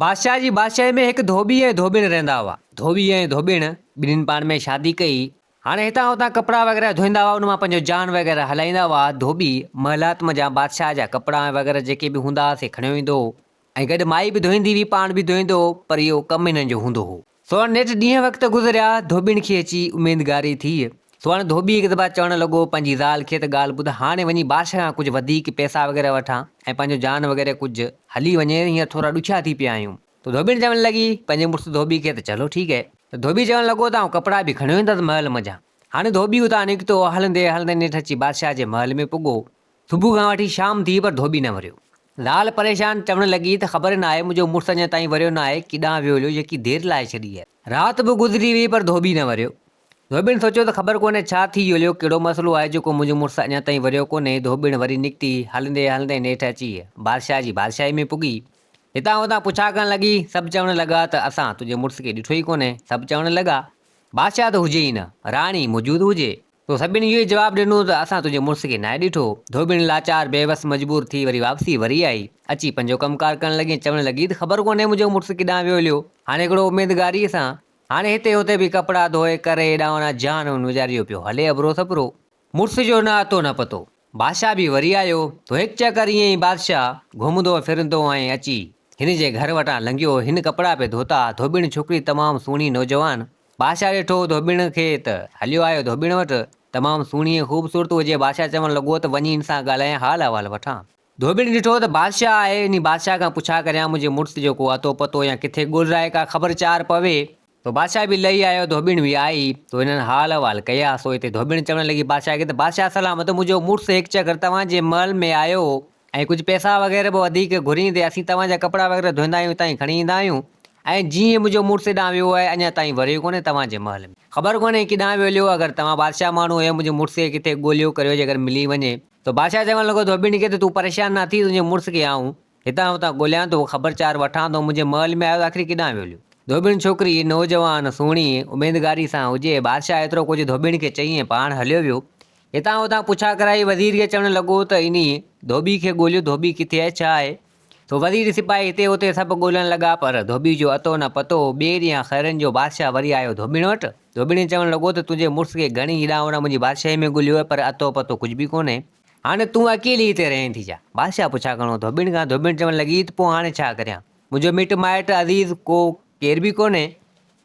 بادشاهه جي بادشاهي ۾ هڪ ڌوٻي ۽ ڌوٻڻ رهندا هئا. ڌوٻي ۽ ڌوٻڻ ٻنهين پاڻ ۾ شادي ڪئي. هاڻي هتان هتان ڪپڙا وغيره ڌوئيندا هئا ان مان پنهنجو جان وغيره هلائيندا هئا. ڌوٻي محلات منجهان بادشاهه جا ڪپڙا ۽ وغيره جيڪي به هوندا هئا سي کڻيو ايندو هو ۽ گڏ مائي به ڌوئيندي هئي پاڻ به ڌوئيندو هو پر اهو ڪم هنن جو هوندو هو. سوهڻ نيٺ ڏينهن وقت گذريا، ڌوٻين کي اچي اميدگاري ٿي. سوهڻ ڌوٻي هڪ دفعا چوڻ لڳو، پنهنجي زال کي ته ڳالهه ٻڌ، هاڻي وڃي بادشاهه کان ڪجهه وڌيڪ پئسا وغيره وٺان ۽ پنهنجو جان وغيره ڪجهه هلي وڃي، هينئر ٿورا ڏکيا ٿي پيا آهيون. ته ڌوٻين چوڻ لڳي، پنهنجي مڙس ڌوٻي کي ته چلو ٺيڪ اهي. ته ڌوٻي چوڻ لڳو ته آئون ڪپڙا به کڻيو ايندس محل منجهان. هاڻي ڌوٻي اتان نڪتو، هلندي هلندي نيٺ اچي بادشاهه جي محل ۾ پڳو. صبح کان وٺي شام ٿي پر ڌوٻي نه وريو. زال پريشان چوڻ لڳي ته خبر ناهي منهنجو مڙس اڃا تائين وريو ناهي، ڪيڏانهن ويو هليو يڪي دير لائي ڇڏي آهي. رات به گذري ويئي پر ڌوٻي نه وريو. ڌوٻين سوچيو ته خبر ڪونهي ڇا ٿي هليو، ڪهڙو مسئلو آهي جو ڪو منهنجو مڙس اڃا تائين وريو ڪونهي، ڌوٻين وري نڪتي، هلندي هلندي نيٺ اچي بادشاهه جي بادشاهي ۾ پڳي. هتان هتان پڇا ڪرڻ لڳي، سڀ چوڻ لڳا ته اسان تنهنجي مڙس کي ڏٺو ئي ڪونهي، سڀ چوڻ لڳا، بادشاهه ته هجي ئي نه، راڻي موجود هجي، تو سڀني اهو ئي جواب ڏنو ته اسان تنهنجي مڙس کي ناهي ڏٺو. ڌوٻيڻي لاچار، بي وس، مجبور ٿي وري واپسي وري آئي. اچي پنهنجو ڪم ڪار ڪرڻ لڳي ۽ چوڻ لڳي ته خبر ڪونهي منهنجو مڙس ڪيڏانهن ويو هليو. هاڻي هڪڙو اميدگاريء سان هاڻي هتي هتي به ڪپڙا ڌوئي ڪري ايڏانهن اوڏانهن جهان ون ويچاري جو پيو هلي ابرو سپرو. مڙس جو نه اتو نه پتو. بادشاهه به وري آيو تو هڪ چڪر ائين ئي بادشاهه گهمندو ڦرندو ۽ اچي هن جي گهر وٽان لنگهيو هن ڪپڙا پي ڌوتا ڌوٻڻ ڇوڪري تمام سهڻي نوجوان بادشاهه ڏٺو ڌوٻڻ کي ته هليو آيو ڌوٻڻ وٽ تمام سهڻي ۽ خوبصورت هجي بادشاهه چوڻ لڳو ته وڃي هن سان ڳالهايان حال احوال وٺان ڌوٻڻ ڏٺو ته بادشاهه آهي انهي بادشاهه کان پڇا ڪريان منهنجي مڙس جو ڪو اتو پتو يا ڪٿي ڳولرائي ڪا خبر چار پوي سو بادشاهه به لهي آيو، ڌوٻڻ به آئي، سو هنن حال احوال ڪيا، سو هتي ڌوٻڻ چوڻ لڳي بادشاهه کي ته بادشاهه سلامت، منهنجو مڙس هڪ چڪر توهان جي محل ۾ آيو هو ۽ ڪجهه پئسا وغيره به وڌيڪ گهريندي اسين توهان جا ڪپڙا وغيره ڌوئيندا آهيون هتان ئي کڻي ايندا آهيون ۽ جيئن ئي منهنجو مڙس هيڏانهن ويو آهي اڃا تائين وريو ڪونهي توهان جي محل ۾. خبر ڪونهي ڪيڏانهن ويليو اگر توهان بادشاهه ماڻهو هيو منهنجي مڙس کي ڪٿي ڳوليو ڪريو جيڪر ملي وڃي. سو بادشاهه چوڻ لڳو ڌوٻڻ کي ته تون پريشان نه ٿي تنهنجي مڙس کي آئون هتان هتان ڳوليان ٿو، خبر چار وٺان ٿو، منهنجي مئل ۾ آيو ته آخر ڪيڏانهن ويوليون؟ ڌوٻڻ ڇوڪري، نوجوان، سهڻي، اميدگاري سان هجي. بادشاهه ايترو ڪجهه ڌوٻڻ کي چئي ۽ پاڻ هليو ويو. هتان هتان پڇا ڪرائي، وزير کي چوڻ لڳو ته انهي ڌوٻي کي ڳوليو، ڌوٻي ڪٿي آهي، ڇا آهي؟ سو وزير سپاهي هتي هتي سڀ ڳولڻ لڳا، پر ڌوٻي جو اتو نه پتو هو. ٻئي ڏينهن خيرن جو بادشاهه وري آيو ڌوٻڻ وٽ. ڌوٻڻ چوڻ لڳو ته تنهنجي مڙس کي گهڻي ئي ڏانء وڙان منهنجي بادشاهي ۾ ڳوليو آهي، پر اتو پتو ڪجهه به ڪونهي. هاڻي تون اڪيلي هتي رهين ٿي ڇا؟ بادشاهه پڇا گهڻو ڌوٻڻ کان ڌوٻڻ چوڻ لڳي ته پوء هاڻي ڇا ڪريان؟ منهنجو مٽ مائٽ عزيز ڪو ڪير به ڪونهي.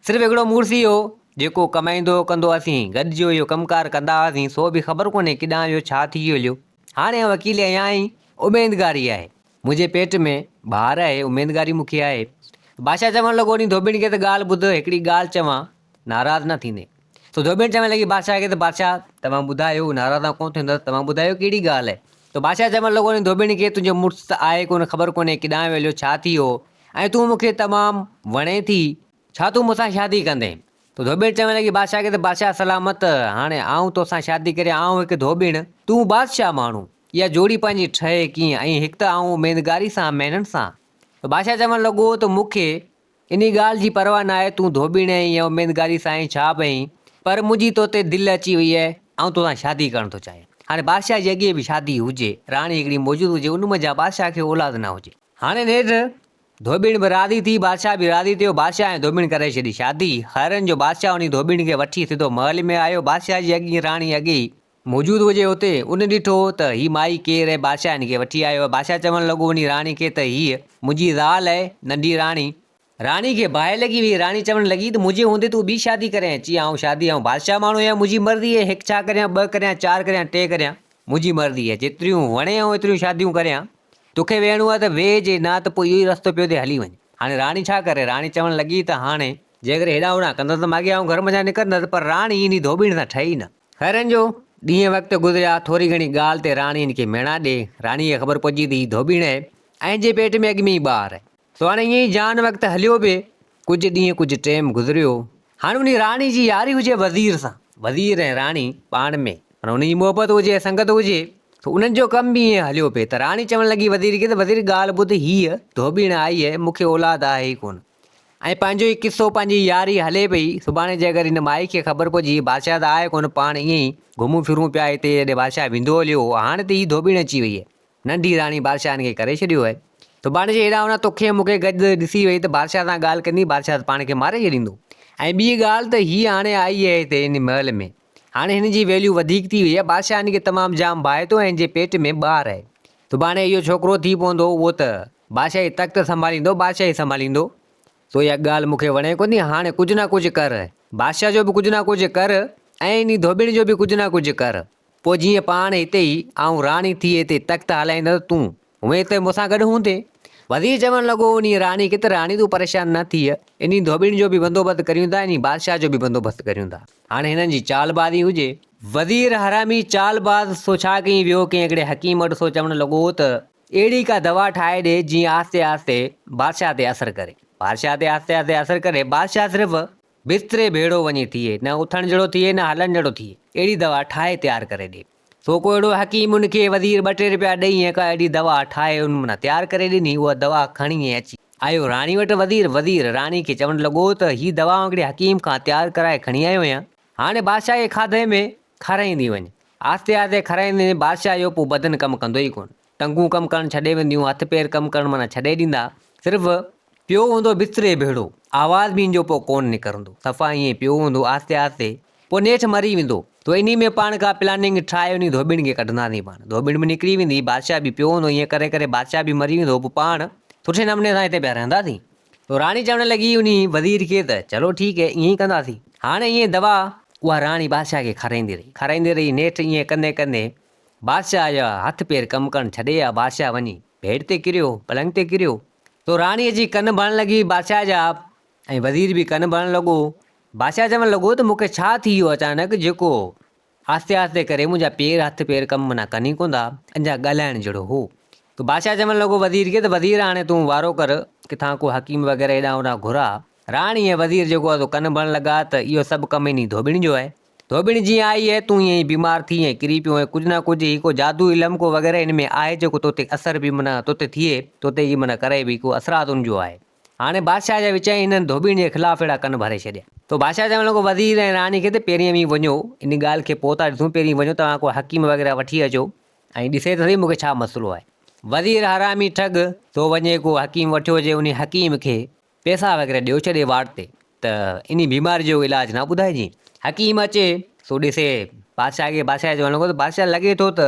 صرف هڪڙو مڙس ئي هو، جيڪو ڪمائيندو هو ڪندو اسين گڏ جو اهو ڪم ڪار ڪندا هئاسين، سو به خبر ڪونهي ڪيڏانهن ويو ڇا ٿي ويو. هاڻي آئون اڪيلي آهيان ۽ اميدگاري آهي. منهنجي پيٽ ۾ بهار آهي، اميدگاري مون کي آهي. بادشاهه چوڻ لڳو، ني ڌوٻڻ کي ته ڳالهه ٻڌ، هڪڙي ڳالهه چوان، ناراض نه ٿيندين. سو ڌوٻڻ چوڻ لڳي بادشاهه کي ته بادشاهه! توهان ٻڌايو، ناراض آئون ڪونه ٿيندس، توهان ٻڌايو ڪهڙي ڳالهه آهي؟ سو بادشاهه چوڻ لڳو، ني ڌوٻڻ کي تنهنجو مڙس ته آهي ڪونه، خبر ڪونهي ڪيڏانهن ويليو، ڇا ٿي هو ۽ تون مون کي تمام وڻين ٿي، ڇا تون مون سان شادي ڪندين؟ ته ڌوٻيڻ چوڻ لڳي بادشاهه کي ته بادشاهه سلامت هاڻي آئون تو سان شادي ڪريان آئون هڪ ڌوٻيڻ تون بادشاهه ماڻهو اها جوڙي پنهنجي ٺهي ڪيئن ۽ هڪ ته آئون اميدگاري سان مهنن سان ته بادشاهه چوڻ لڳو ته مون کي انهي ڳالهه جي پرواهه ناهي تون ڌوٻيڻ اهين يا اميدگاري سان اهين ڇا به اهين پر منهنجي تو تي دل اچي وئي اهي آئون تو سان شادي ڪرڻ ٿو چاهيان هاڻي بادشاهه جي اڳي به شادي هجي راڻي هڪڙي موجود هجي ان منجهان بادشاهه کي اولاد نه هجي هاڻي نيٺ ڌوٻيڻ به راضي ٿي، بادشاهه به راضي ٿيو، بادشاهه ۽ ڌوٻيڻ ڪرائي ڇڏي شادي، خيرن جو بادشاهه انهي ڌوٻيڻ کي وٺي سڌو محل ۾ آيو، بادشاهه جي اڳينء راڻي اڳي ئي. موجود هجي هتي، ان ڏٺو ته هي مائي ڪير اهي، بادشاهه هن کي وٺي آيو آهي، بادشاهه چوڻ لڳو انهي راڻي کي ته هيء منهنجي زال اهي، ننڍي راڻي، راڻي کي باهه لڳي ويئي، راڻي چوڻ لڳي ته منهنجي هوندي تون ٻي شادي ڪرين، اچي آئون شادي، آئون بادشاهه ماڻهو آهيان، منهنجي مرضي اهي، هڪ ڇا ڪريان، ٻه ڪريان، چار ڪريان، ٽي ڪريان، منهنجي مرضي اهي، جيتريون وڻين آئون ايتريون شاديون ڪريان. توکي ويهڻو آهي ته ويهجي، نه ته پوء اهو ئي رستو پيو ٿئي، هلي وڃ. هاڻي راڻي ڇا ڪري؟ راڻي چوڻ لڳي ته هاڻي. جيڪڏهن هيڏانهن هوڏانهن ڪندس ته ماڳهين آئون گهر منجهان نڪرندس. پر راڻي هن ئي ڌوٻيڻ سان ٺهي ئي نه. خيرن جو ڏينهن وقت گذريا. ٿوري گهڻي ڳالهه تي راڻي هن کي ميڻا ڏي. راڻيء کي خبر پئجي ته هي ڌوٻيڻ اهي ۽ هن جي پيٽ ۾ اڳ ۾ ئي ٻار اهي. سو هاڻي ائين ئي جان وقت هليو به ڪجهه ڏينهن ڪجهه ٽيم گذريو هاڻي انهي راڻي جي ياري هجي وزير سان وزير ۽ راڻي پاڻ ۾ معنيٰ انهن جي محبت هجي سنگت هجي سو انهن جو ڪم به ائين هليو پئي ته راڻي چوڻ لڳي وزير کي ته وزير ڳالهه ٻڌ هيء ڌوٻيڻ آئي هي مون کي اولاد آهي ئي ڪونه ۽ پنهنجو ئي قصو پنهنجي ياري هلي پئي سڀاڻي جي اگر هن مائي کي خبر پئجي بادشاهه ته آهي ڪونه پاڻ ائين ئي گهمون ڦرون پيا هتي هيڏي بادشاهه ويندو هليو هو هاڻي ته هي ڌوٻيڻ اچي وئي هي ننڍي راڻي بادشاهه هن کي ڪري ڇڏيو آهي. تو ڀاڻيجي هيڏانهن هونئن توکي ۽ مون کي گڏ ڏسي وئي ته بادشاهه سان ڳالهه ڪندين، بادشاهه ته پاڻ کي ماري ڇڏيندو. ۽ ٻي ڳالهه ته هيء هاڻي آئي آهي هتي هن محل ۾، هاڻي هن جي ويليو وڌيڪ ٿي وئي آهي، بادشاهه هن کي تمام جام ڀائي ٿو ۽ هن جي پيٽ ۾ ٻار آهي. تو ڀاڻيجي اهو ڇوڪرو ٿي پوندو اهو ته بادشاهي تخت سنڀاليندو، بادشاهي سنڀاليندو. تو اها ڳالهه مون کي وڻي ڪونهي، هاڻي ڪجهه نه ڪجهه ڪر، بادشاهه جو به ڪجهه نه ڪجهه ڪر ۽ انهي ڌوٻيڻ جو به ڪجهه نه ڪجهه ڪر. پوء جيئن پاڻ هتي ئي آئون راڻي ٿي هتي تخت هلائيندس ته تون هونئن هتي مون سان گڏ هوندين. وزير چوڻ لڳو، انهيء راڻي کي ته راڻي تون پريشان نه ٿيء، انهيء ڌوٻين جو به بندوبست ڪريون ٿا، انهيء بادشاهه جو به بندوبست ڪريون ٿا. هاڻي هنن جي چال بازي هجي. وزير حرامي چال باز سو ڇا ڪيئي ويو ڪنهن هڪڙي حڪيم وٽ سو چوڻ لڳو ته اهڙي ڪا دوا ٺاهي ڏي جيئن آهستي آهستي بادشاهه تي اثر ڪري. بادشاهه تي آهستي آهستي اثر ڪري. بادشاهه صرف. بستري ڀيڙو وڃي ٿئي، نه اٿڻ جهڙو ٿئي، نه هلڻ جهڙو ٿئي، اهڙي دوا ٺاهي تيار ڪري ڏي. سو ڪو اهڙو حڪيم ان کي وزير ٻه ٽي رپيا ڏئي ۽ ڪا اهڙي دوا ٺاهي ان منان تيار ڪري ڏني. اها دوا کڻي ۽ اچي. آيو راڻي وٽ وزير. وزير راڻي کي چوڻ لڳو ته هي دوا آئون هڪڙي حڪيم کان تيار ڪرائي کڻي آيو آهيان. هاڻي بادشاهه کي کاڌي ۾ کارائيندي وڃ. آهستي آهستي کارائيندي وڃ، بادشاهه جو پوء بدن ڪم ڪندو ئي ڪونه. ٽنگون ڪم ڪرڻ ڇڏي وينديون، هٿ پير ڪم ڪرڻ معنيٰ ڇڏي ڏيندا، صرف پيو هوندو بستري ڀيڙو، آواز به ان جو پوء ڪونه نڪرندو، صفا ائين ئي پيو هوندو، آهستي آهستي پوء نيٺ مري ويندو، تو انهي ۾ پاڻ ڪا پلاننگ ٺاهي انهي ڌوٻڻ کي ڪڍنداسين پاڻ، ڌوٻڻ به نڪري ويندي، بادشاهه به پيو هوندو، ائين ڪري ڪري بادشاهه به مري ويندو، پوء پاڻ سٺي نموني سان هتي پيا رهنداسين. تو راڻي چوڻ لڳي انهي وزير کي ته چلو ٺيڪ هي، ائين ئي ڪنداسين. هاڻ ائين دوا اها راڻي بادشاهه کي کارائيندي رهي، کارائيندي رهي، نيٺ ائين ڪندي ڪندي بادشاهه جا هٿ پير ڪم ڪرڻ ڇڏي آ. بادشاهه وڃي بيڊ تي ڪريو، پلنگ تي ڪريو، تو راڻي اچي ڪن ڀرڻ لڳي بادشاهه جا ۽ وزير به ڪن ڀرڻ لڳو. بادشاهه چوڻ لڳو ته مون کي ڇا ٿي ويو اچانڪ جيڪو آهستي آهستي ڪري منهنجا پير هٿ پير ڪم منا ڪن ئي ڪوندا انجا ڳالهائڻ جهڙو هو ته بادشاهه چوڻ لڳو وزير کي ته وزير هاڻي تون وارو ڪر ڪٿان ڪو حڪيم وغيره هيڏانهن هوڏانهن گهراء. راڻي ۽ وزير جيڪو آ سو ڪن ڀرڻ لڳا ته اهو سڀ ڪم انهي ڌوٻڻ جو آهي. ڌوٻڻ جيئن آئي هيء تون ائين ئي بيمار ٿي ۽ ڪري پيو ۽ ڪجهه نه ڪجهه هي ڪو جادو علم ڪو وغيره هن ۾ آهي جيڪو تو تي اثر به معنيٰ تو تي ٿئي تو تي ئي معنيٰ ڪري به ڪو اثرات ان جو آهي. هاڻي بادشاهه جا وچائي هنن ڌوٻڻ جي خلاف اهڙا ڪن ڀري ڇڏيا. تو بادشاهه چوڻ لڳو وزير ۽ راڻي کي ته پهرين اوهين وڃو ان ڳالهه کي پوء ٿا ڏسون پهرين وڃو توهان ڪو حڪيم وغيره وٺي اچو ۽ ڏسي ته سهي مون کي ڇا مسئلو آهي. وزير حرامي ٺڳ! تو وڃي ڪو حڪيم وٺيو اچ انهي حڪيم کي پيسا وغيره ڏيو چڏي واٽ تي ته انهي بيماري جو علاج نه ٻڌائجين. حڪيم اچي سو ڏسي بادشاهه کي بادشاهه چوڻ لڳو ته بادشاهه لڳي ٿو ته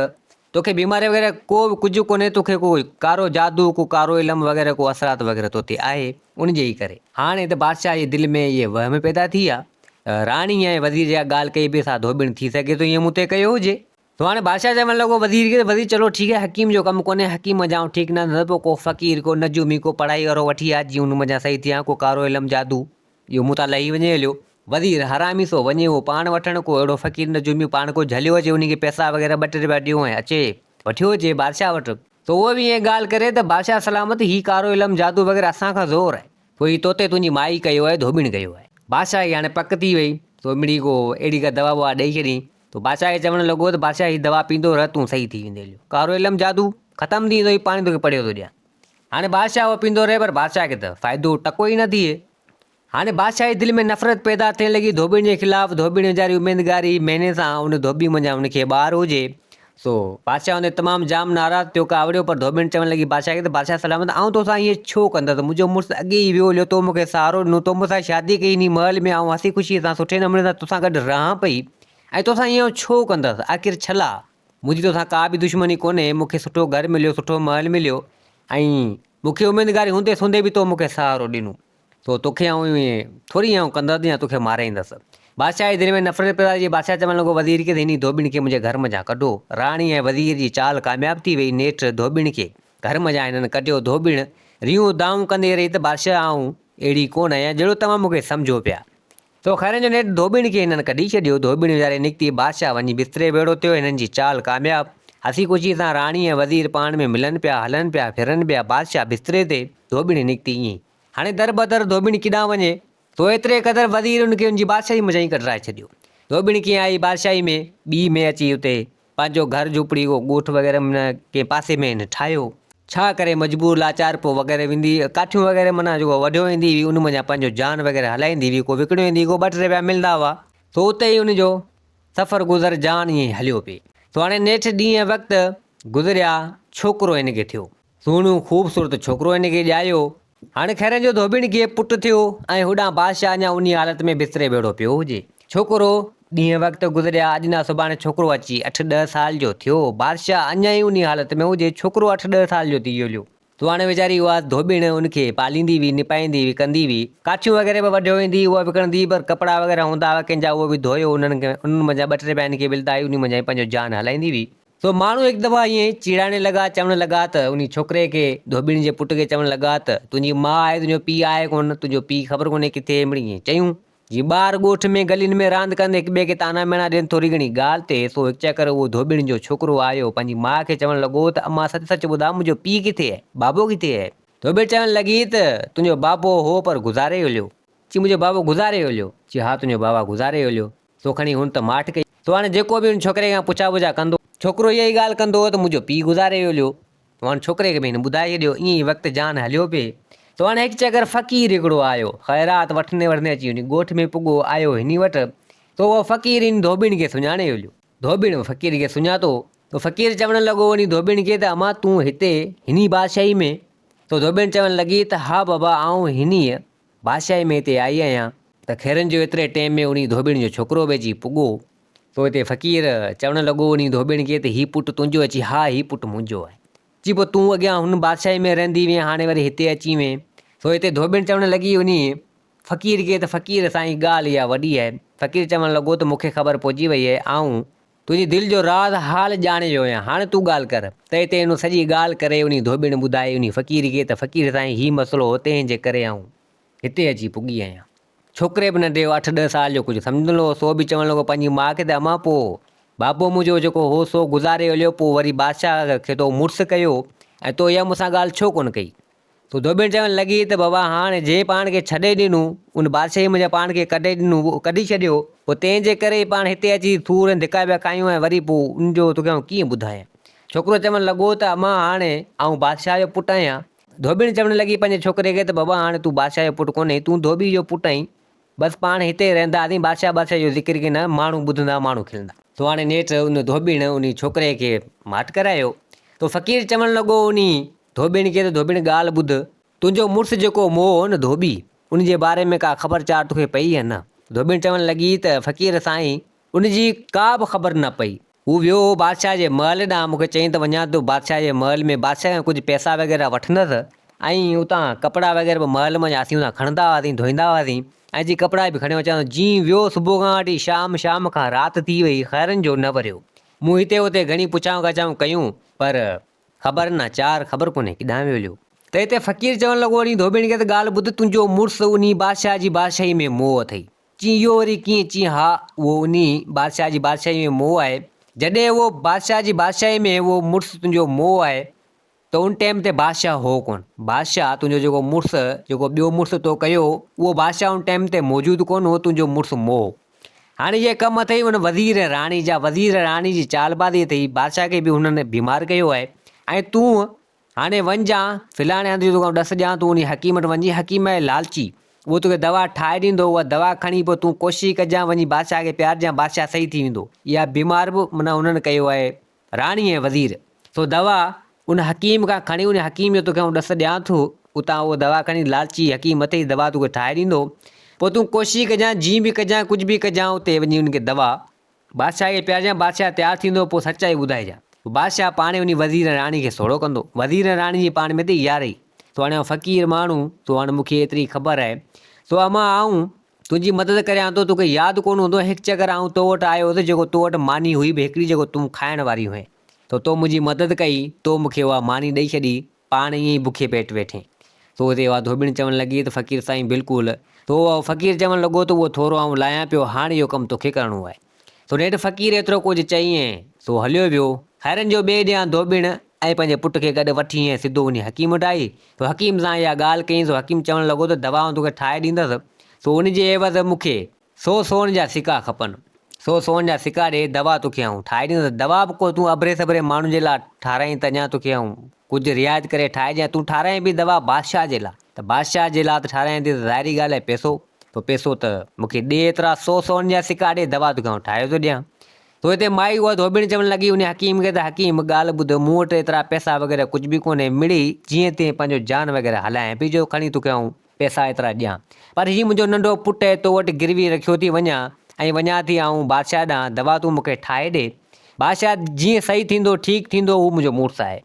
توکي بيماري وغيره ڪو به ڪجهه ڪونهي توکي ڪو ڪارو جادو ڪو ڪارو علم وغيره ڪو اثرات وغيره تو تي آهي ان جي ئي ڪري. هاڻي ته بادشاهه جي دل ۾ اهي وهم پيدا ٿي ويا ته راڻي ۽ وزير جيڪا ڳالهه ڪئي بي سا ڌوٻڻ ٿي سگهي ٿو ائين مون تي ڪيو هجي. سو هاڻي بادشاهه چوڻ لڳو وزير کي وزير چلو ٺيڪ آهي حڪيم جو ڪم ڪونهي حڪيم منجهان ٺيڪ نه ٿيندو ته پوء ڪو فقير ڪو نجومي ڪو پڙهائي وارو وٺي آ جيئن ان منجهان صحيح ٿيان ڪو ڪارو علم جادو اهو مون تان لهي وڃي هليو وزير حرامي سو وڃي اهو پاڻ وٺڻ ڪو اهڙو فقير نجومي پاڻ ڪو جهليو اچي ان کي پئسا وغيره ٻه ٽي رپيا ڏيو ۽ اچي وٺيو اچي بادشاهه وٽ سو اهو به ائين ڳالهه ڪري ته بادشاهه سلامت هي ڪارو علم جادو وغيره اسان کان زور آهي سو هي توتي تنهنجي مائي ڪيو آهي ڌوٻڻ ڪيو آهي. بادشاهه کي هاڻي پڪ ٿي وئي سو مڙئي ڪو اهڙي ڪا دوا ٻوا ڏئي ڇڏيائين تو بادشاهه کي چوڻ لڳو ته بادشاهه هي دوا پيندو رهه تون صحيح ٿي ويندين جو ڪارو علم جادو ختم ٿي ويندو هي پاڻي توکي پڙهيو ٿو ڏيان هاڻي بادشاهه اهو پيندو رهي پر بادشاهه کي ته فائدو ٽڪو ئي نه ٿئي هاڻي بادشاهه جي دل ۾ نفرت پيدا ٿيڻ لڳي ڌوٻيڻ جي خلاف ڌوٻيڻ ويچاري اميدگار هئي مهيني سان ان ڌوٻي منجهان ان کي ٻار هجي سو بادشاهه ان تي تمام جام ناراض ٿيو، ڪاوڙيو، پر ڌوٻڻ چوڻ لڳي بادشاهه کي ته بادشاهه سلامت آئون تو سان ائين ڇو ڪندس، منهنجو مڙس اڳي ئي ويو هليو، تو مون کي سهارو ڏنو، تو مون سان شادي ڪئي، انهي محل ۾ آئون هسي خوشيء سان سٺي نموني سان تو سان گڏ رهان پئي ۽ تو سان ائين آئون ڇو ڪندس، آخر ڇلا، منهنجي تو سان ڪا به دشمني ڪونهي، مون کي سٺو گهر مليو، سٺو محل مليو ۽ مون کي اميدگاري هوندي سوندي به تو مون کي سهارو ڏنو، سو توکي آئون ايئن ٿوري آئون ڪندس يا توکي مارائيندس. بادشاهه جي دل ۾ نفرت پيدا ٿي. بادشاهه چوڻ لڳو، وزير کيس انهي ڌوٻڻ کي منهنجي گهر منجهان ڪڍو. راڻي ۽ وزير جي چال ڪامياب ٿي ويئي. نيٺ ڌوٻڻ کي گهر منجهان هنن ڪڍيو. ڌوٻڻ ريون ادائون ڪندي رهي ته بادشاهه آئون اهڙي ڪونه آهيان جهڙو توهان مون کي سمجهو پيا. سو خيرن جو نيٺ ڌوٻڻ کي هنن ڪڍي ڇڏيو. ڌوٻڻ ويهاري نڪتي. بادشاهه وڃي بستري ويڙهو ٿيو. هنن جي چال ڪامياب. هسي خوشي سان راڻي ۽ وزير پاڻ ۾ ملن پيا، هلن پيا، ڦرن پيا. بادشاهه بستري تي. ڌوٻڻ نڪتي ائين ئي. هاڻي در بدر ڌوٻڻ ڪيڏانهن وڃي؟ سو ايتري قدر وزير ان کي ان جي بادشاهي منجهان ئي ڪڍرائي ڇڏيو. ڌوٻڻ ڪيئن آئي بادشاهي ۾، ٻيئي ۾ اچي اتي پنهنجو گهر جهوپڙي ڪو ڳوٺ وغيره ۾ نه ڪنهن پاسي ۾ هن ٺاهيو. ڇا ڪري مجبور لاچار پوء وغيره ويندي هئي ڪاٺيون وغيره معنيٰ جيڪو وڍيو ويندي هئي ان منجهان پنهنجو جان وغيره هلائيندي هئي ڪو وڪڻيو ويندي ڪو ٻه ٽي رپيا ملندا هئا. سو اتي ئي ان جو سفر گذر جان ائين ئي هليو پئي. سو هاڻي نيٺ ڏينهن وقت گذريا ڇوڪرو هن کي ٿيو. سهڻو خوبصورت ڇوڪرو هن کي ڄايو. هاڻ خيرن جو ڌوٻڻ کي پٽ ٿيو ۽ هوڏانهن بادشاهه اڃا انهيء حالت ۾ بستري ويڙهو پيو هجي. ڇوڪرو، ڏينهن وقت گذريا، اڄ نه سڀاڻي ڇوڪرو اچي اٺ ڏهه سال جو ٿيو. بادشاهه اڃا ئي انهيء حالت ۾ هجي، ڇوڪرو اٺ ڏهه سال جو ٿي جوليو. سهڻي ويچاري اها ڌوٻڻ ان کي پاليندي هئي، نپائيندي هئي، ڪندي هئي. ڪاٺيون وغيره به وڍيو ويندي هئي، اها به ڪڻندي هئي، پر ڪپڙا وغيره هوندا هئا ڪنهن جا اهي به ڌوئي انهن کي انهن منجهان ٻه ٽي پيا هن کي ملدا هئي، انهيء منجهان ئي پنهنجو جان هلائيندي هئي. سو ماڻهو هڪ دفعا ائين ئي چيڙائڻ لڳا، چوڻ لڳا ته انهي ڇوڪري کي، ڌوٻيڻي جي پٽ کي چوڻ لڳا ته، تنهنجي ماء آهي تنهنجو پيء آهي ڪونه، تنهنجو پيء خبر ڪونهي ڪٿي اهي مڙئي ائين چيون. جيئن ٻار ڳوٺ ۾ گلين ۾ راند ڪندي هڪ ٻئي کي طعنا ميڻا ڏين ٿوري گهڻي ڳالهه تي، سو هڪ چڪر اهو ڌوٻيڻي جو ڇوڪرو آيو، پنهنجي ماء کي چوڻ لڳو ته امان سچ سچ ٻڌاء منهنجو پيء ڪٿي اهي، بابو ڪٿي اهي؟ ڌوٻيڻي چوڻ لڳي ته، تنهنجو بابو هو پر گذاري هليو. چي منهنجو بابو گذاري هليو؟ چي ها تنهنجو بابا گذاري هليو. سو کڻي هن ته ماٺ ڪئي. سو هاڻي جيڪو به هن ڇوڪري کان پڇا ٻجها ڪندو. ڇوڪرو اها ئي ڳالهه ڪندو هو ته منهنجو پيء گذاري ويو هليو. سو هاڻي ڇوڪري کي به هن ٻڌائي ڇڏيو. ائين ئي وقت جان هليو پئي. سو هاڻي هڪ چڪر فقير هڪڙو آيو. خيرات وٺندي وٺندي اچي هن ڳوٺ ۾ پڳو. آيو هني وٽ. سو اهو فقير هن ڌوٻڻ کي سڃاڻي هليو. ڌوٻڻ فقير کي سڃاتو. سو فقير چوڻ لڳو هني ڌوٻڻ کي ته امان تون هتي هني بادشاهي ۾؟ سو ڌوٻڻ چوڻ لڳي ته ها بابا آئون هنيء بادشاهي ۾ هتي آئي آهيان ته خيرن جو ايتري ٽيم ۾ انهي ڌوٻيڻ جو ڇوڪرو به اچي پڳو. تو هتي فقير! چوڻ لڳو انهي ڌوٻيڻ کي ته هي پٽ تنهنجو آهي؟ چي، ها هي پٽ منهنجو آهي. چي، پوء تون اڳيان هن بادشاهي ۾ رهندي هئين هاڻي وري هتي اچي وئين؟ سو هتي ڌوٻيڻ چوڻ لڳي انهي فقير کي ته فقير! سائين ڳالهه اها وڏي آهي. فقير چوڻ لڳو ته مون کي خبر پئجي وئي آهي آئون تنهنجي دل جو راز حال ڄاڻي ويو آهيان، هاڻي تون ڳالهه ڪر. تئي تي هن سڄي ڳالهه ڪري انهي ڌوٻڻ ٻڌائي انهي فقير کي ته فقير سائين هي مسئلو هو تنهن جي ڪري آئون هتي اچي پڳي آهيان. ڇوڪري به ننڍي هو اٺ ڏهه سال جو ڪجهه سمجهندڙ هو سو به چوڻ لڳو پنهنجي ماء کي ته امان پوء بابو منهنجو جيڪو هو سو گذاري هليو پوء وري بادشاهه کي تو مڙس ڪيو ۽ تو اها مون سان ڳالهه ڇو ڪونه ڪئي؟ پوء ڌوٻڻ چوڻ لڳي ته بابا هاڻ جنهن پاڻ کي ڇڏي ڏنو، ان بادشاهيء منجهان پاڻ کي ڪڍي ڏنو، اهو ڪڍي ڇڏيو، پوء تنهن جي ڪري ئي پاڻ هتي اچي ٿور ۽ ڌڪا پيا کايون ۽ وري پوء ان جو توکي آئون ڪيئن ٻڌايان؟ ڇوڪرو چوڻ لڳو ته امان هاڻ آئون بادشاهه جو پٽ آهيان. ڌوٻڻ چوڻ لڳي پنهنجي ڇوڪري کي ته بابا هاڻ تون بادشاهه جو پٽ ڪونهين، تون ڌوٻيء جو پٽ آهين. بس پاڻ هتي ئي رهنداسين، بادشاهه بادشاهه جو ذڪر ڪين، ماڻهو ٻڌندا، ماڻهو کلندا. سو هاڻ نيٺ ان ڌوٻڻ انهي ڇوڪري کي ماٺ ڪرايو. سو فقير چوڻ لڳو انهي ڌوٻيڻ کي ته ڌوٻيڻ ڳالهه ٻڌ، تنهنجو مڙس جيڪو مئو هو نه ڌوٻي، ان جي باري ۾ ڪا خبر چار توکي پئي يا نه؟ ڌوٻيڻ چوڻ لڳي ته فقير سائين، ان جي ڪا به خبر نه پئي. هو ويو هو بادشاهه جي محل ڏانهن، مون کي چيائين ته وڃان ٿو بادشاهه جي محل ۾ بادشاهه کان ڪجهه پئسا وغيره وٺندس ۽ اتان ڪپڙا وغيره به محل مان اسين اتان کڻندا هئاسين، ڌوئيندا هئاسين ۽ جي ڪپڙا به کڻي اچان ٿو. جيئن ويو صبح کان وٺي شام، شام کان رات ٿي وئي، خيرن جو نه وريو. مون هتي هتي گهڻي پڇائون ڳاڇائون ڪيون پر خبر نه چار خبر ڪونهي ڪيڏانهن ويو هليو. ته هتي فقير چوڻ لڳو اڙي ڌوٻيڻ کي ته ڳالهه ٻڌ تنهنجو مڙس انهي بادشاهه جي بادشاهي ۾ موهه اٿئي. چين اهو وري ڪيئن؟ چين ها اهو انهي بادشاهه جي بادشاهي ۾ موهه آهي. جڏهن اهو بادشاهه جي بادشاهي ۾ اهو مڙس تنهنجو موهه آهي ته ان ٽيم تي بادشاهه هو ڪونه. بادشاهه تنهنجو جيڪو مڙس جيڪو ٻيو مڙس تو ڪيو اهو بادشاهه ان ٽيم تي موجود ڪونه هو تنهنجو مڙس موهه. هاڻي اهي ڪم اٿئي ان وزير ۽ راڻي جا، وزير ۽ راڻي جي چالبازي اٿئي، بادشاهه کي به هنن بيمار ڪيو آهي، ۽ تون هاڻي وڃ جا فلاڻي هنڌ جو توکان ڏس ڏيان، تون انهي حڪيم وٽ وڃ، حڪيم آهي لالچي، اهو توکي دوا ٺاهي ڏيندو، اها دوا کڻي پوء تون ڪوشش ڪجان، وڃي بادشاهه کي پيارجان، بادشاهه صحيح ٿي ويندو. اها بيمار به معنيٰ هنن ڪيو آهي، راڻي ۽ وزير، سو دوا ان حڪيم کان کڻي وڃ، حڪيم جو توکي آئون ڏس ڏيان ٿو، اتان اهو دوا کڻي لالچي حڪيم مٿي جي دوا توکي ٺاهي ڏيندو، پوء تون ڪوشش ڪجانء، جيئن به ڪجانء، ڪجهه به ڪجانء، اتي وڃي ان کي دوا، بادشاهه کي پيارجانء، بادشاهه تيار ٿيندو، پوء سچائي ٻڌائجانء، پوء بادشاهه پاڻهي وڃي وزير ۽ راڻي کي سوڙهو ڪندو، وزير ۽ راڻي جي پاڻ ۾ ته اها رهي، سو هاڻي آئون فقير ماڻهو، سو هاڻي مون کي ايتري خبر آهي، سو امان آئون تنهنجي مدد ڪريان ٿو. توکي ياد ڪونه هوندو هڪ چڪر آئون تو وٽ آيو هوس جيڪو تو وٽ ماني هئي به هڪڙي جيڪو تون کائڻ واري هئين ته تو منهنجي مدد ڪئي تو مون کي اها ماني ڏئي ڇڏي پاڻ ائين ئي بکي پيٽ ويٺين تو تي اها ڌوٻڻ چوڻ لڳي ته فقير سائين بلڪل تو فقير چوڻ لڳو ته اهو ٿورو آئون لاهيان پيو هاڻ اهو ڪم توکي ڪرڻو آهي. سو نيٺ فقير ايترو ڪجهه چئي ۽ سو هليو ويو. خيرن جو ٻئي ڏينهن ڌوٻڻ ۽ پنهنجي پٽ کي گڏ وٺي ۽ سڌو وڃي حڪيم وٽ آئي. سو حڪيم سان اها ڳالهه ڪيائين سو حڪيم چوڻ لڳو ته دوائون توکي ٺاهي ڏيندس سو ان جي عيوض مون کي سو سون جا سڪا کپن. سو سون جا سڪا ڏي دوا توکي آئون ٺاهي ڏيندس. دوا به ڪو تون اڀري سڀري ماڻهن جي لاء ٺاهرائين ته اڃا توکي آئون ڪجهه رعايت ڪري ٺاهجي ۽ تون ٺاراهين به دوا بادشاهه جي لا ته بادشاهه جي لا ته ٺاراهين ٿي ته ظاهري ڳالهه آهي پئسو تو پئسو ته مون کي ڏي ايترا سو سون جا سڪا ڏي دوا تو کي آئون ٺاهي ٿو ڏيان تو هتي مائي اها ڌوٻڻ چوڻ لڳي انهي حڪيم کي ته حڪيم ڳالهه ٻڌ مون وٽ ايترا پئسا وغيره ڪجهه به ڪونهي مڙئي جيئن تيئن پنهنجو جان وغيره هلائين پئي جو کڻي تو کي آئون پئسا ايترا ڏيان. پر هي منهنجو ننڍو پٽ تو وٽ گروي رکيو ٿي وڃان ۽ وڃان ٿي آئون بادشاهه ڏانهن، دوا تون مون کي ٺاهي ڏي. بادشاهه، جيئن صحيح ٿيندو، ٺيڪ ٿيندو، هو منهنجو مڙس آهي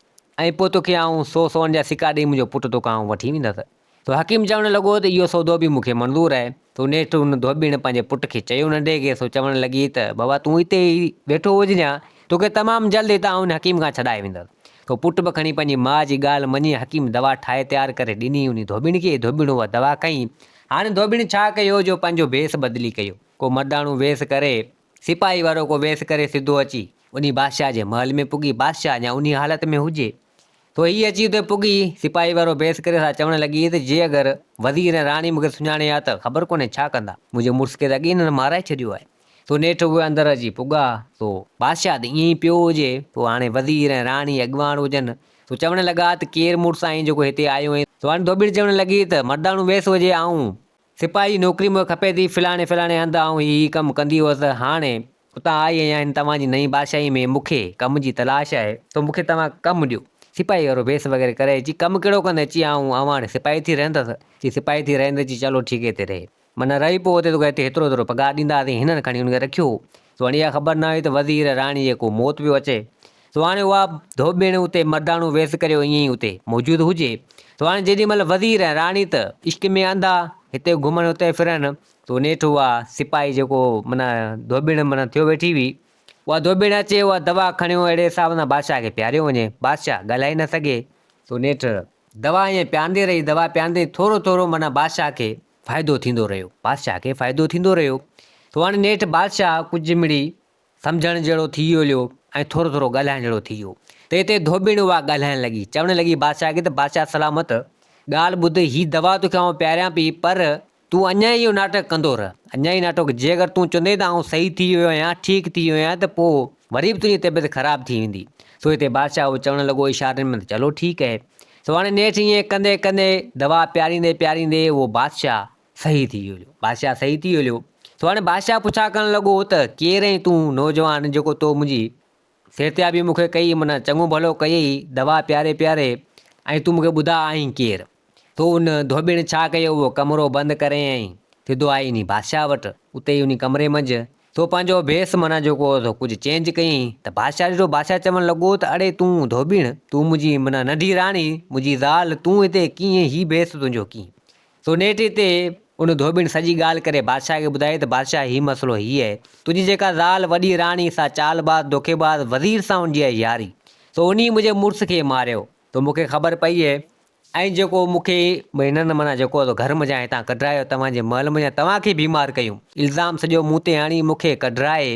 ۽ پوء توکي آئون سو سون جا سڪا ڏيئي منهنجو پٽ توکان آئون وٺي ويندس. تو حڪيم چوڻ لڳو ته اهو سودو به مون کي منظور آهي. تو نيٺ ان ڌوٻيڻ پنهنجي پٽ کي چيو ننڍي کي سو چوڻ لڳي ته بابا تون هتي ئي ويٺو هججان، توکي تمام جلد هتان آئون حڪيم کان ڇڏائي ويندس. سو پٽ به کڻي پنهنجي ماء جي ڳالهه مڃي حڪيم دوا ٺاهي تيار ڪري ڏني انهي ڌوٻڻ کي، ڌوٻڻ اها دوا کنئي. هاڻ ڌوٻڻ ڇا ڪيو جو پنهنجو ڀيس بدلي ڪيو. ڪو مرداڻو ويس ڪري، سپاهي وارو ڪو ويس ڪري سڌو اچي انهي بادشاهه جي محل ۾ پڳي، بادشاهه اڃا انهي حالت ۾ هجي سو هي اچي اتي پڳي، سپاهي وارو ويس ڪري سا چوڻ لڳي ته جي اگر وزير ۽ راڻي مون کي سڃاڻي ها ته خبر ڪونهي ڇا ڪندا، منهنجي مڙس کي ته اڳي انهن مارائي ڇڏيو آهي. تو نيٺ اهي اندر اچي پڳا. سو بادشاهه ته ائين ئي پيو هجي. سو هاڻي وزير ۽ راڻي اڳواڻ هجن. سو چوڻ لڳا ته ڪير مڙس آهين جيڪو هتي آيو اهين. سو هاڻي ڌوٻيڙ چوڻ لڳي ته مرداڻو ويس هجي آئون سپاهي جي نوڪري مون کي کپي ٿي فلاڻي فلاڻي هنڌ آئون هي هي ڪم ڪندي هئس هاڻي اتان آئي آهيان هن توهان جي نئين بادشاهي ۾ مون کي ڪم جي تلاش آهي سو مون کي توهان ڪم ڏيو سپاهي وارو ويس وغيره ڪري چي ڪم ڪهڙو ڪندين چي آئون آئون هاڻي سپاهي ٿي رهندس چي سپاهي ٿي رهندين چي چلو ٺيڪي تي رهي. من رهي پوء تي توکي هتي هيترو هيترو پگهار ڏينداسين هنن کڻي ان کي رکيو هو سو هاڻي اها خبر نه هئي ته وزير راڻي جي ڪو موت پيو اچي سو هاڻي اها ڌوٻيڻ اتي مرداڻو ويس ڪري ائين ئي اتي موجود هجي سو هاڻي جيڏي مهل وزير ۽ راڻي ته عشق ۾ انڌا هتي گهمن اتي ڦرن سو نيٺ اها سپاهي جيڪو من ڌوٻيڻ من ٿيو ويٺي هئي اها ڌوٻيڻ اچي اها دوا کڻيو اهڙي حساب سان بادشاهه کي پياريو وڃي بادشاهه ڳالهائي نه سگهي سو نيٺ دوا ائين پياندي رهي دوا پياندي ٿورو ٿورو من بادشاهه کي فائدو ٿيندو رهيو. بادشاهه کي فائدو ٿيندو رهيو. سو هاڻي نيٺ بادشاهه ڪجهه مڙئي سمجهڻ جهڙو ٿي ويو ۽ ٿورو ٿورو ڳالهائڻ جهڙو ٿي ويو ته هتي ڌوٻڻ اها ڳالهائڻ لڳي، چوڻ لڳي بادشاهه کي ته بادشاهه سلامت ڳالهه ٻڌ، هي دوا توکي آئون پياريان پئي پر تون اڃا ئي اهو ناٽڪ ڪندو رهه، اڃا ئي ناٽڪ، جي اگر تون چوندين ته آئون صحيح ٿي ويو آهيان، ٺيڪ ٿي ويو آهيان ته پوء وري به تنهنجي طبيعت خراب ٿي ويندي. سوئي تي بادشاهه اهو چوڻ لڳو اشارن ۾ ته چلو ٺيڪ اهي. سو هاڻي نيٺ ائين ڪندي ڪندي دوا پياريندي پياريندي اهو بادشاهه صحيح ٿي ويو هليو. بادشاهه صحيح ٿي ويو هليو. سو هاڻي بادشاهه پڇا ڪرڻ لڳو ته ڪير اهين تون نوجوان جيڪو تو منهنجي صحتيابي مون کي ڪئي معنيٰ چڱو ڀلو ڪيئي دوا پياري پياري ۽ تون مون کي ٻڌاء آهين ڪير؟ تو ان ڌوٻيڻ ڇا ڪيو اهو ڪمرو بند ڪرين ۽ سڌو آئي انهي بادشاهه وٽ اتي ئي انهي ڪمري منجهه تو پنهنجو ڀيس معنيٰ جيڪو هو سو ڪجهه چينج ڪيئين ته بادشاهه ڏٺو بادشاهه چوڻ لڳو ته اڙي تون ڌوٻيڻ تون منهنجي معنيٰ ننڍي راڻي منهنجي زال تون هتي ڪيئين هي ڀيس تنهنجو ڪيئين سو نيٺ هتي ان ڌوٻيڻ سڄي ڳالهه ڪري بادشاهه کي ٻڌائي ته بادشاهه هي مسئلو هي اهي تنهنجي جيڪا زال وڏي راڻي سا چال باز دوکي باز وزير سان هوندي آهي ياري سو انهي منهنجي مڙس کي ماريو تو مون کي خبر پئي هي ۽ جيڪو مون کي هنن معنيٰ جيڪو گهر منجهان هتان ڪڍرايو توهان جي محل منجهان توهان کي بيمار ڪيون الزام سڄو مون تي آڻي مون کي ڪڍرائي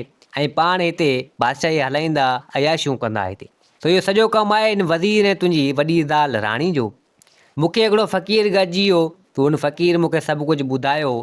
۽ پاڻ هتي بادشاهي هلائيندا عياشيون ڪندا هتي تو اهو سڄو ڪم آهي هن وزير ۽ تنهنجي وڏي زال راڻي جو مون کي هڪڙو فقير گڏجي ويو تو ان فقير مون کي سڀ ڪجهه ٻڌايو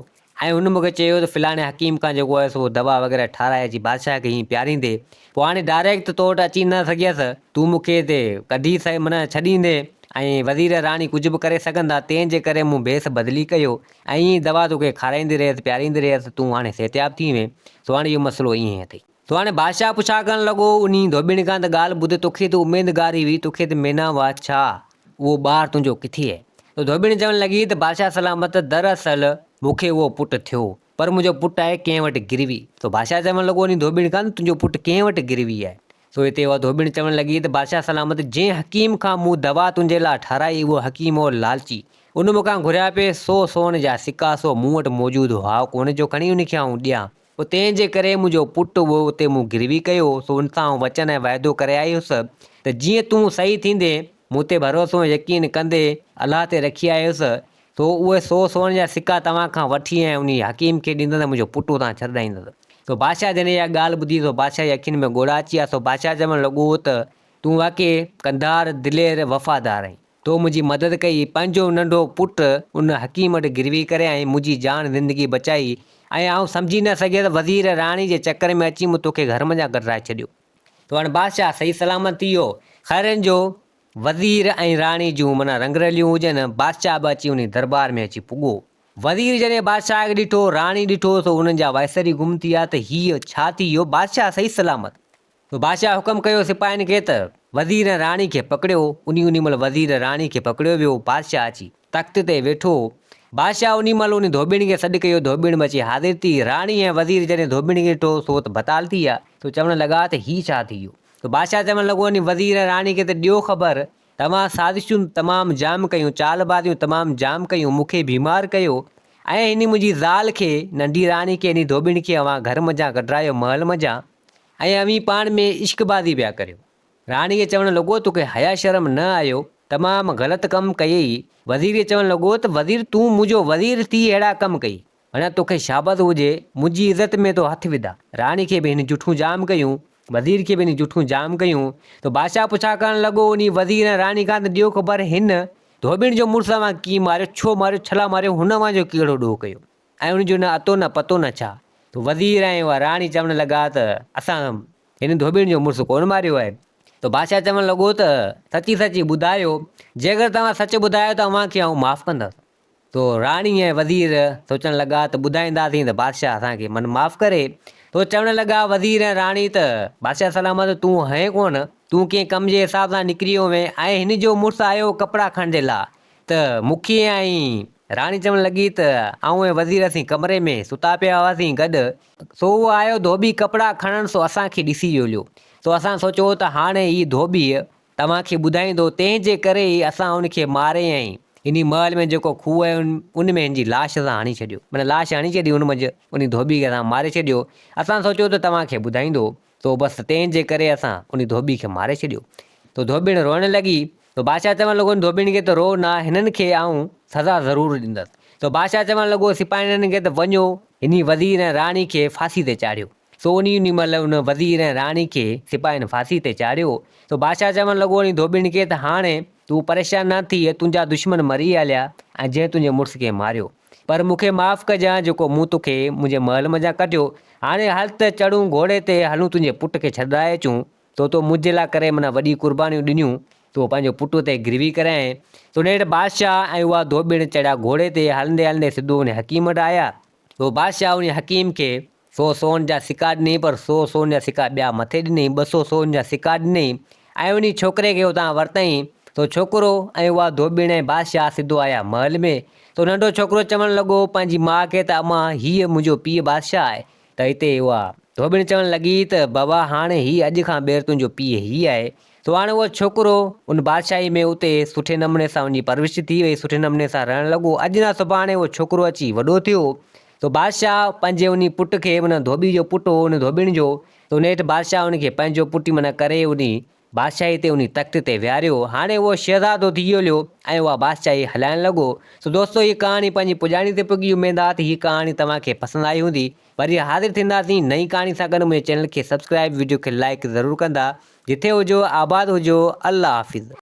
۽ هن مون کي چيو ته فلاڻي حڪيم کان جيڪو هيس اهو دوا وغيره ٺاراء اچي بادشاهه کي هيئن پياريندي، پوء هاڻي ڊائريڪٽ ته تو وٽ اچي نه سگهيس، تون مون کي هتي ڪڍي سهي معنيٰ ڇڏيندين، ۽ وزير ۽ راڻي ڪجهه به ڪري سگهن ٿا، تنهن جي ڪري مون ڀيس بدلي ڪيو، ۽ ايئن ئي دوا تو کي کارائيندي رهيس، پياريندي رهيس، تون هاڻي صحتياب ٿي وئين، سو هاڻي اهو مسئلو ايئن ئي اٿئي. تو هاڻي بادشاهه پڇا ڪرڻ لڳو، انهي ڌوٻيڻي کان ته ڳالهه ٻڌي توکي ته اميدگاري هئي، توکي ته مينا هئا ڇا؟ اهو ٻار تنهنجو ڪٿي هي؟ تو ڌوٻيڻي چوڻ لڳي ته بادشاهه سلامت دراصل مون کي اهو پٽ ٿيو، پر منهنجو پٽ آهي ڪنهن وٽ گروي. تو بادشاهه چوڻ لڳو انهي ڌوٻيڻي کان ته تنهنجو پٽ ڪنهن وٽ گروي آهي؟ تو هتي اها ڌوٻيڻي چوڻ لڳي ته بادشاهه سلامت جنهن حڪيم کان مون دوا تنهنجي لاء ٺهرائي اهو حڪيم هو لالچي، ان مون کان گهريا پئي سو سون جا سڪا سو مون وٽ موجود هئا ڪونه جو کڻي انهي کي آئون ڏيان، پوء تنهن جي ڪري منهنجو پٽ به اتي مون گروي ڪيو، سو ان سان آئون وچن ۽ وعدو ڪري آيس ته جيئن تون صحيح ٿيندين، مون تي ڀروسو ۽ يقين ڪندي الله تي رکي آيس، سو اهي سو سون جا سڪا توهان کان وٺي ۽ انهي حڪيم کي ڏيندس ۽ منهنجو پٽ اتان ڇڏرائيندس. سو بادشاهه جڏهن اها ڳالهه ٻڌي سو بادشاهه جي اکين ۾ ڳوڙها اچي آيا، سو بادشاهه چوڻ لڳو ته تون واقعي ڪنڌار، دلير، وفادار آهين. تو منهنجي مدد ڪئي، پنهنجو ننڍو پٽ ان حڪيم وٽ گروي ڪري ۽ منهنجي جان زندگي بچائي ۽ آئون سمجهي نه سگهيس وزير راڻي جي چڪر ۾ اچي مون توکي گهر منجهان ڪڍرائي ڇڏيو. تو هاڻ بادشاهه صحيح سلامت ٿي ويو. خيرن جو وزير ۽ راڻي جون منا رنگ رليون هجن، بادشاهه به اچي انهي دربار ۾ اچي پڳو. وزير جڏهن بادشاهه کي ڏٺو، راڻي ڏٺو سو انهن جا وائسر ئي گم ٿي ويا ته هيء ڇا ٿي ويو، بادشاهه صحيح سلامت؟ سو بادشاهه حڪم ڪيو سپاهين کي ته وزير ۽ راڻي کي پڪڙيو. انهي انهي مهل وزير ۽ راڻي کي پڪڙيو ويو. بادشاهه اچي تخت تي ويٺو هو. بادشاهه انهي مهل انهي ڌوٻيڻي کي سڏ ڪيو. ڌوٻيڻ به اچي حاضر ٿي. راڻي ۽ وزير جڏهن ڌوٻيڻي کي ڏٺو سو ته بتال ٿي ويا. سو چوڻ لڳا ته هي ڇا ٿي ويو. سو بادشاهه چوڻ لڳو انهي وزير ۽ راڻي کي ته ڏيو خبر توهان سازشون تمام جام ڪيون، چال بازيون تمام جام ڪيون، مون کي بيمار ڪيو ۽ انهي منهنجي زال کي ننڍي راڻي کي انهي ڌوٻيڻ کي اوهان گهر منجهان ڪڍرايو، محل منجهان. ۽ اوهين پاڻ ۾ عشق بازي پيا ڪريو. راڻيء چوڻ لڳو تو کي حيا شرم نه آيو، تمام غلط ڪم ڪيئي. وزير چوڻ لڳو ته وزير تون منهنجو وزير ٿي اهڙا ڪم ڪئي، ڀڻيا تو کي شابس هجي، منهنجي عزت ۾ تو هٿ وڌا. راڻي کي به هن جٺون جام ڪيون، وزير کي به هن جٺون جام ڪيون ته بادشاهه پڇا ڪرڻ لڳو انهي وزير ۽ راڻي کان ته ڏيو خبر هن ڌوٻڻ جو مڙس اوهان کي ڪيئن ماريو، ڇو ماريو، ڇلا ماريو، هن اوهان جو ڪهڙو ڏوهه ڪيو. ۽ ان جو نه اتو نه پتو نه ڇا. وزير ۽ اها راڻي چوڻ لڳا ته اسان هن ڌوٻين جو مڙس ڪونه ماريو آهي. ته بادشاهه چوڻ لڳو ته سچي سچي ٻڌايو، جيڪر توهان سچ ٻڌايو ته اوهان کي آئون معاف ڪندس. تو راڻي ۽ وزير سوچڻ لڳا ته ٻڌائينداسين ته بادشاهه اسان کي من معاف ڪري. تو چوڻ لڳا وزير ۽ راڻي ته بادشاهه سلامت تون هئين ڪونه، تون ڪنهن ڪم جي حساب سان نڪري هوئين ۽ هن جو مڙس آيو ڪپڙا کڻجي لاء، ته مون ڪيئن آئين؟ راڻي چوڻ لڳي ته آئون ۽ وزير اسين ڪمري ۾ ستا پيا هئاسين گڏ، سو هو آيو ڌوٻي ڪپڙا کڻڻ سو اسان کي ڏسي ڄوليو، سو اسان سوچيو ته هاڻي هي ڌوٻيء توهان کي ٻڌائيندو، تنهن جي ڪري ئي اسان ان کي ماري ۽ انهي محل ۾ جيڪو کوهه هيو ان ۾ هن جي لاش اسان هڻي ڇڏيو، معنيٰ لاش هڻي ڇڏي ان منجهه انهي ڌوٻي کي اسان ماري ڇڏيو، اسان سوچيو ته توهان کي ٻڌائيندو، تو بس تنهن جي ڪري اسان ان ڌوٻي کي ماري ڇڏيو. تو ڌوٻڻ روئڻ لڳي. تو بادشاهه چوڻ لڳو ان ڌوٻڻي کي ته روء نه، هنن کي آئون سزا ضرور ڏيندس. تو بادشاهه چوڻ لڳو سپاهيڻن کي ته وڃو انهي وزير ۽ راڻي کي ڦاسي تي چاڙهيو. سو انهي انهي مهل ان وزير ۽ راڻي کي سپاهين ڦاسي تي چاڙهيو. تو بادشاهه چوڻ لڳو انهي ڌوٻڻي کي ته هاڻي تون پريشان نه ٿيء، تنهنجا دشمن مري هليا ۽ جنهن تنهنجي مڙس کي ماريو. پر مون کي معاف ڪجان جيڪو مون توکي منهنجي محل منجهان ڪڍيو. هاڻي هل ته چڙهون گهوڙي تي هلون تنهنجي پٽ کي ڇڏرائي اچون. تو تو منهنجي لاء ڪري منا وڏي قربانيون ڏنيون. تو پنهنجو پٽ اتي گروي ڪرايائين. تو نيٺ بادشاهه ۽ اها ڌوٻيڻ چڙهيا گهوڙي تي هلندي هلندي سڌو انهي حڪيم وٽ آيا. تو بادشاهه انهي حڪيم کي سو سون جا سڪا ڏنئين پر سو سون جا سڪا ٻيا مٿي ڏنئين، ٻه سو سون جا سڪا ڏنئين ۽ انهي ڇوڪري کي اتان ورتئين. سو ڇوڪرو ۽ اها ڌوٻڻ ۽ بادشاهه سڌو آيا محل ۾. سو ننڍو ڇوڪرو چوڻ لڳو پنهنجي ماء کي ته امان هيء منهنجو پيء بادشاهه آهي ته هتي اها ڌوٻڻ چوڻ لڳي ته بابا هاڻ هي اڄ کان ٻيهر تنهنجو پيء هي آهي. سو هاڻ اهو ڇوڪرو ان بادشاهي ۾ اتي سٺي نموني سان ان جي پرورش ٿي وئي، سٺي نموني سان رهڻ لڳو، اڄ نه سڀاڻي اهو ڇوڪرو اچي وڏو ٿيو. سو بادشاهه پنهنجي انهي پٽ کي، معنيٰ ڌوٻي جو پٽ هو انهي ڌوٻين جو، ته ان هيٺ بادشاهه ان کي پنهنجو پٽ معنيٰ ڪري انهي بادشاهي تي انهي تخت تي ويهاريو. هاڻي اهو شهزادو ٿي ڄوليو ۽ اها بادشاهي هلائڻ لڳو. سو دوستو هيء ڪهاڻي پنهنجي پڄاڻي تي پڳي اميد آ ته هيء ڪهاڻي توهان کي پسند آئي هوندي. وري حاضر ٿينداسين نئين ڪهاڻي سان گڏ منهنجي چينل کي سبسڪرائب وڊيو کي لائيڪ ضرور ڪندا. جٿي هجو آباد هجو الله حافظ.